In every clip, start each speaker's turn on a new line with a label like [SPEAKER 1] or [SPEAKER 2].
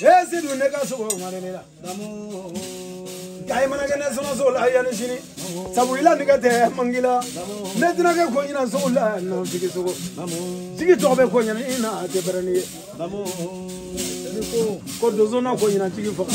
[SPEAKER 1] e sedu ne ka sogo ŋare ne la kayi mana kɛ ne sɔnɔso la yanni sini sabu ila nɛgɛ tɛ mangi la ne tɛna kɛ kɔɲina sogo la nɔ jigi sogo jigi tɔgɔ bɛ kɔɲina in na a tɛ bɛrɛni ye ko donso na kɔɲina jigi faga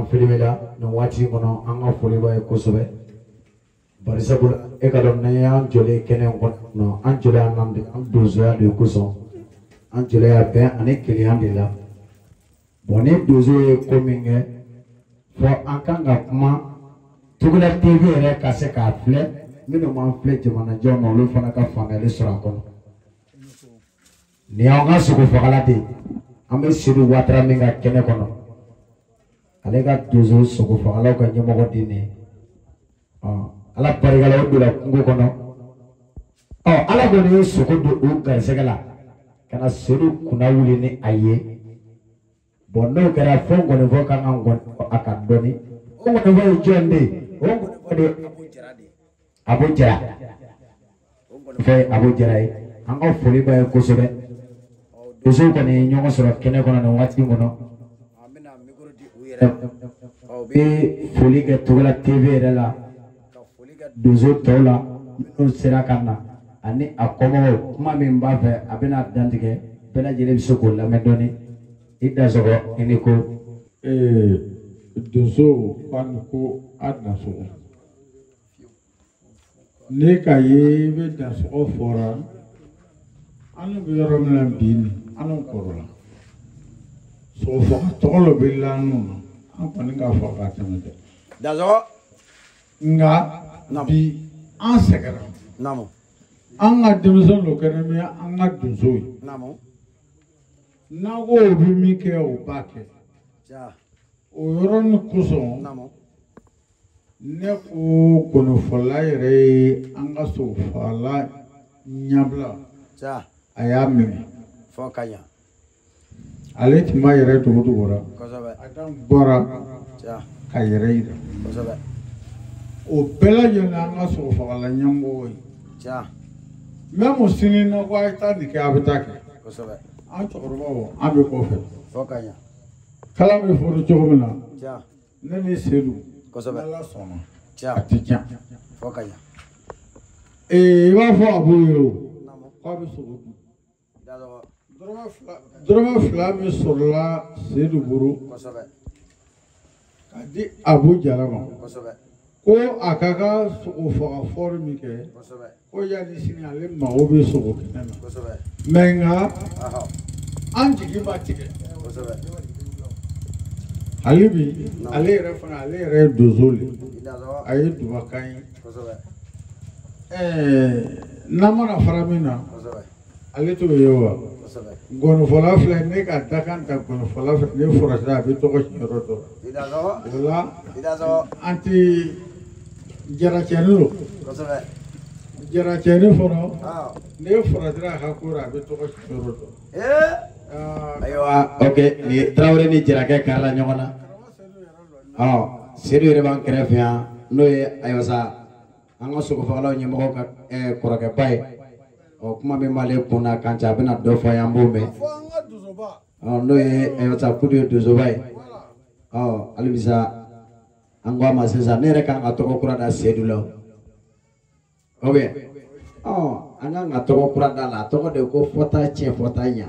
[SPEAKER 2] an filimela nin waati kɔnɔ an ka foli b'a ye kosɛbɛ bari sabula e k'a dɔn n'a y'an jɔlen kɛnɛ kɔnɔ an jɔlen yan n'an de an donsoya de kosɔn an jɔlen yan bɛn ani kelenya de la bɔn ni donso ye ko min kɛ fɔ an kan ka kuma togola tv yɛrɛ ka se k'a filɛ minnu m'an filɛ jamanajɔ ma olu fana ka faamuyali sɔrɔ a kɔnɔ nin y'an ka sogo fagala de ye an bɛ sedu watara min ka kɛnɛ kɔnɔ ale ka donso sogo fagalaw ka ɲɛmɔgɔ de ye nin ye ala barika la o donna kungo kɔnɔ ɔ ala kɔni ye sogo don o garisɛgɛ la ka na sedu kunna wuli ni a ye bɔn n'o kɛra fo nkɔnifɔ ka kan ka nkɔni fɔ a kan dɔɔni o nkɔnifɔ ye jɔn de ye o nkɔnifɔ de ye abu jara o nkɔnifɔ ye abu jara ye an ka foli b'a ye kosɛbɛ donsow kɔni ye ɲɔgɔn sɔrɔ kɛnɛ kɔnɔ nin waati in kɔnɔ u bɛ foli kɛ togola tv yɛrɛ la ka foli kɛ donso tɔw la minnu sera ka na ani a kɔmɔgɔw kuma min b'a fɛ a bɛna dantigɛ bɛɛ lajɛlen bɛ se k'o lamɛn dɔɔni i dasɔgɔ i ni ko.
[SPEAKER 3] donso fan ko a dasɔgɔ ne ka ye i bɛ dasɔgɔ fɔra an bɛ yɔrɔ min na bi nin an kɔrɔla sogofaga tɔgɔ dɔ bɛ lanu na an kɔni k'a fɔ k'a tɛmɛ dɛ. dasɔgɔ. nka bi an
[SPEAKER 1] sɛgɛnna an
[SPEAKER 3] ka denmisɛn dɔ kɛra min an ka donso ye n'an ko o bɛ min kɛ o b'a kɛ
[SPEAKER 1] o
[SPEAKER 3] yɔrɔnin kosɔn ne ko nkɔnifɔla yɛrɛ ye an ka sogofagala ɲɛbila
[SPEAKER 1] a y'a minɛ
[SPEAKER 3] fɔ ka ɲa ale tun ma yɛrɛ cogo cogo
[SPEAKER 1] la bɔra k'a
[SPEAKER 3] yɛrɛ yira o bɛɛ lajɛlen an ka sogo fagala ɲɛmɔgɔ ye mɛmu sini n'a ko a ye taa nin kɛ a bɛ taa kɛ
[SPEAKER 1] an
[SPEAKER 3] cɛkɔrɔbaw an bɛ
[SPEAKER 1] kɔfɛ
[SPEAKER 3] kalan bɛ fɔra cogo min na
[SPEAKER 1] ne ni
[SPEAKER 3] sedu ala sɔnna a tɛ tiɲɛ i b'a fɔ abu ye o k'a bɛ sogo
[SPEAKER 1] dun
[SPEAKER 3] dɔrɔmɛ fila min sɔrɔla sedu bolo ka di abu jara ma ko
[SPEAKER 1] a
[SPEAKER 3] ka ka sogo faga fɔli min kɛ ko yanni
[SPEAKER 1] sini
[SPEAKER 3] ale mago bɛ sogo kɛnɛ na
[SPEAKER 1] mɛ nka an
[SPEAKER 3] jigi ma
[SPEAKER 1] tigɛ
[SPEAKER 3] hali bi ale yɛrɛ fana ale yɛrɛ ye donso de a ye
[SPEAKER 1] duba k'an ye
[SPEAKER 3] n'an mana fara min na ale t'o ye wa ŋɔnifɔla filɛ ne ka dakan ta ŋɔnifɔla filɛ ne fɔrɔsira a bɛ tɔgɔ tiɲɛ yɔrɔ dɔ la o la an tɛ jaracɛni don jaracɛni fɔlɔ ne fɔrɔsira a ka ko la a bɛ tɔgɔ tiɲɛ yɔrɔ
[SPEAKER 2] dɔ ayiwa ok nin ye tarawele ni jarakɛ kari la ɲɔgɔn na ɔ sedu yɛrɛ b'an kɛrɛfɛ yan n'o ye ayiwa sa an ka sogofagalaw ɲɛmɔgɔ ka eh, kɔrɔkɛba ye ɔ kuma min b'ale kun na kan cɛ a bɛna dɔ fɔ an ye an b'o mɛn ɔ n'o ye ayiwa sa eh, kudu ye donsoba ye ɔ halibisa an ko a ma sisan ne yɛrɛ kan ka tɔgɔ kura da sedu la o bɛ ɔ an kan ka tɔgɔ kura da a la a tɔgɔ de ko fɔta tiɲɛ fɔta ɲa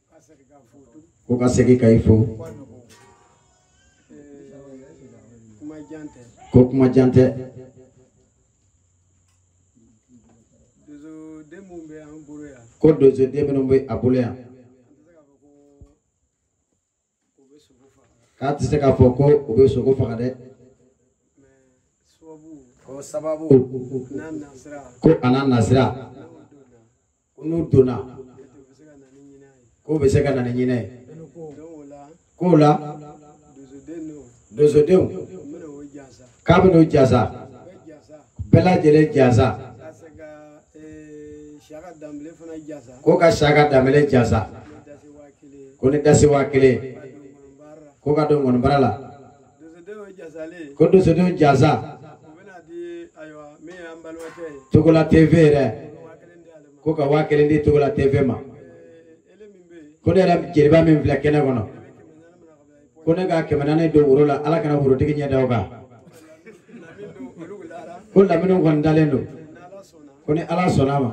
[SPEAKER 2] ko ka segin ka i fo ko kuma jan tɛ ko donsoden minnu bɛ a bolo yan k'a tɛ se k'a fɔ ko o bɛ sogo faga dɛ ko sababu ko a n'a nasira ko n'u donna k'o bɛ se ka na ni ɲinɛ ye k'o la donsodenw k'a bɛn'u jansa bɛɛ lajɛlen jansa ko ka siyaka danbele jansa ko ni dasi waa kelen ko ka don ŋɔnibara la ko donsodenw jansa togola tv yɛrɛ ko ka waa kelen di togola tv ma ko ne yɛrɛ jeliba min filɛ kɛnɛ kɔnɔ ko ne ka kɛmɛ naani don woro la ala kana worotigi ɲɛ da o kan ko lamini kɔni dalen don ko ni ala sɔnna a ma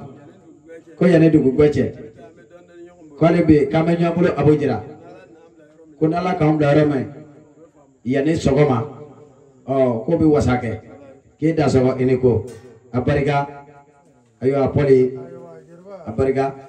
[SPEAKER 2] ko yanni dugu gwɛ cɛ k'ale bɛ yen k'an bɛ ɲɔgɔn bolo a b'o jira ko n'ala k'an bila yɔrɔ min yanni sɔgɔma ɔ k'o bɛ wasa kɛ k'e da sɔgɔ i ni ko a barika ayiwa pɔli a barika.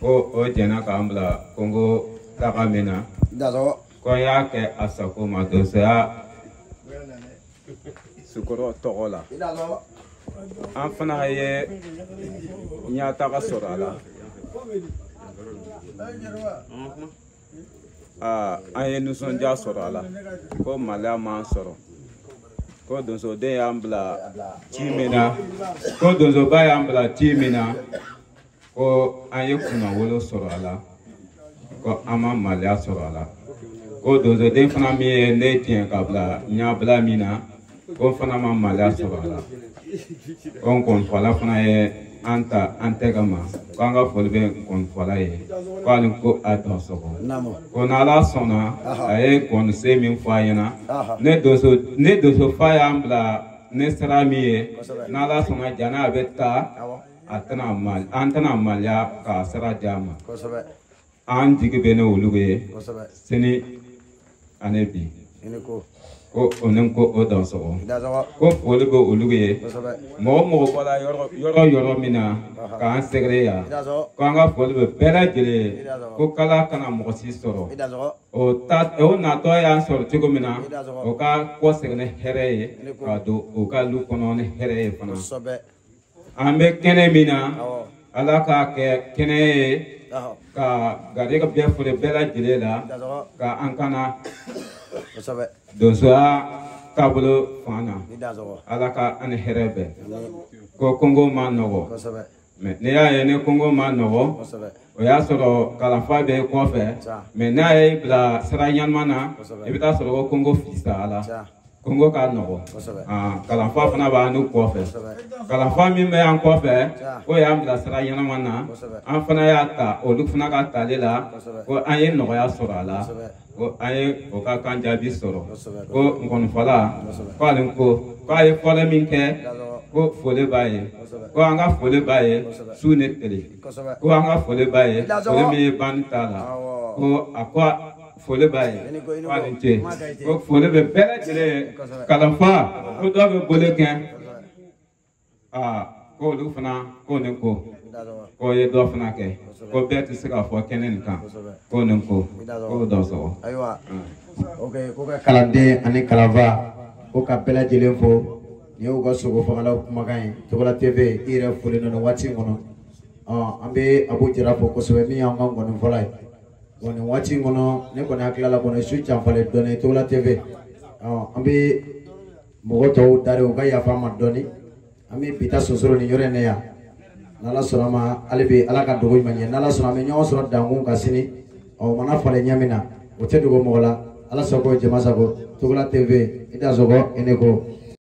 [SPEAKER 4] ko o jɛnna k'an bila kongo taga min na ko n y'a kɛ a sago ma donsoya sukɔrɔ tɔgɔ la an fana ye ɲɛtaga sɔrɔ a la aa an ye nisɔndiya sɔrɔ a la ko maliya m'an sɔrɔ ko donsoden y'an bila ci min na ko donsoba y'an bila ci min na ko an ye kunnawolo sɔrɔ a la ko an ma maliya sɔrɔ a la ko donsoden fana min ye ne tiɲɛ ka bila n y'a bila min na ko n fana ma maliya sɔrɔ a la ko nkɔnifɔla fana ye an ta an tɛgɛ ma ko an ka foli bɛ nkɔnifɔla ye ko a ni ko a dansɔgɔ ko n'ala sɔnna a ye nkɔnisen min fɔ a ɲɛna ne donso ne donsofa y'an bila ni sira min ye n'ala sɔnna jana a bɛ taa a tɛna mal- an tɛna maliya k'a sira di a ma kosɛbɛ an jigi bɛ ne olu bɛɛ ye kosɛbɛ sini ani bi i ni ko ko o ni ko o dansɔgɔ i dansɔgɔ ko foli bɛ olu bɛɛ ye kosɛbɛ mɔgɔ o mɔgɔ bɔra yɔrɔ yɔrɔ yɔrɔ min na k'an sɛgɛrɛ yan i dansɔgɔ ko an ka foli bɛ bɛɛ lajɛlen ye ko kala kana mɔgɔ si sɔrɔ i dansɔgɔ o ta o natɔ y'an sɔrɔ cogo min na o ka kɔsegin ni hɛrɛ ye ka don o ka lu kɔnɔ ni hɛrɛ ye fana kosɛbɛ an bɛ kɛnɛ min na ala k'a kɛ kɛnɛ ye ka garijɛgɛ bɛɛ fori bɛɛ lajɛlen la ka an kana donsoya taabolo fan na ala ka an ni hɛrɛ bɛn ko kongo man nɔgɔ mɛ n'i y'a ye ni kongo man nɔgɔ o y'a sɔrɔ kalanfa bɛ kɔfɛ mɛ n'a y'i bilasira ɲanama na i bɛ taa sɔrɔ ko kongo fisayala kongo ka nɔgɔ ah, kalanfa fana b'anw kɔfɛ kalanfa min bɛ an kɔfɛ o y'an bilasira ɲɛnama na an fana y'a ta olu fana ka tali la ko an ye nɔgɔya sɔrɔ a la ko an ye o ka kan jaabi sɔrɔ ko nkɔnifɔla k'ale ko k'a ye fɔli min kɛ ko foli b'a ye ko an ka foli b'a ye su ni tile ko an ka foli b'a ye foli min ye banni t'a la ko a ko foli b'a ye k'a ni ce ko foli bɛ bɛɛ lajɛlen ye kalanfa ko dɔw bɛ boli kɛ aa ko olu fana k'o ni ko k'o ye dɔ fana kɛ ko bɛɛ tɛ se ka fɔ kɛnɛ nin kan k'o ni ko k'o dansɔgɔ.
[SPEAKER 2] ayiwa ok ko ka kalanden ani kalanfa ko ka bɛɛ lajɛlen fo nin y'aw ka sogofagalaw kumakan ye Togola TV i yɛrɛ foli nana waati in kɔnɔ an bɛ Abu Jara fo kosɛbɛ min y'an ka nkɔnifɔla ye. bon nin waati in kɔnɔ ne kɔni hakili la kɔni su janfalen dɔɔni Togola TV ɔ an bɛ mɔgɔ tɔw dari u ka yafa an ma dɔɔni an bɛ bi ta sonsoro nin yɔrɔ in na yan n'Ala sɔnna ma hali bi Ala ka dugu ɲuman jɛ n'Ala sɔnna an bɛ ɲɔgɔn sɔrɔ dankun kan sini ɔ o mana falen ɲɛ min na o tɛ dogo mɔgɔ la Ala sago jama sago Togola TV i dansɔgɔ i ni ko.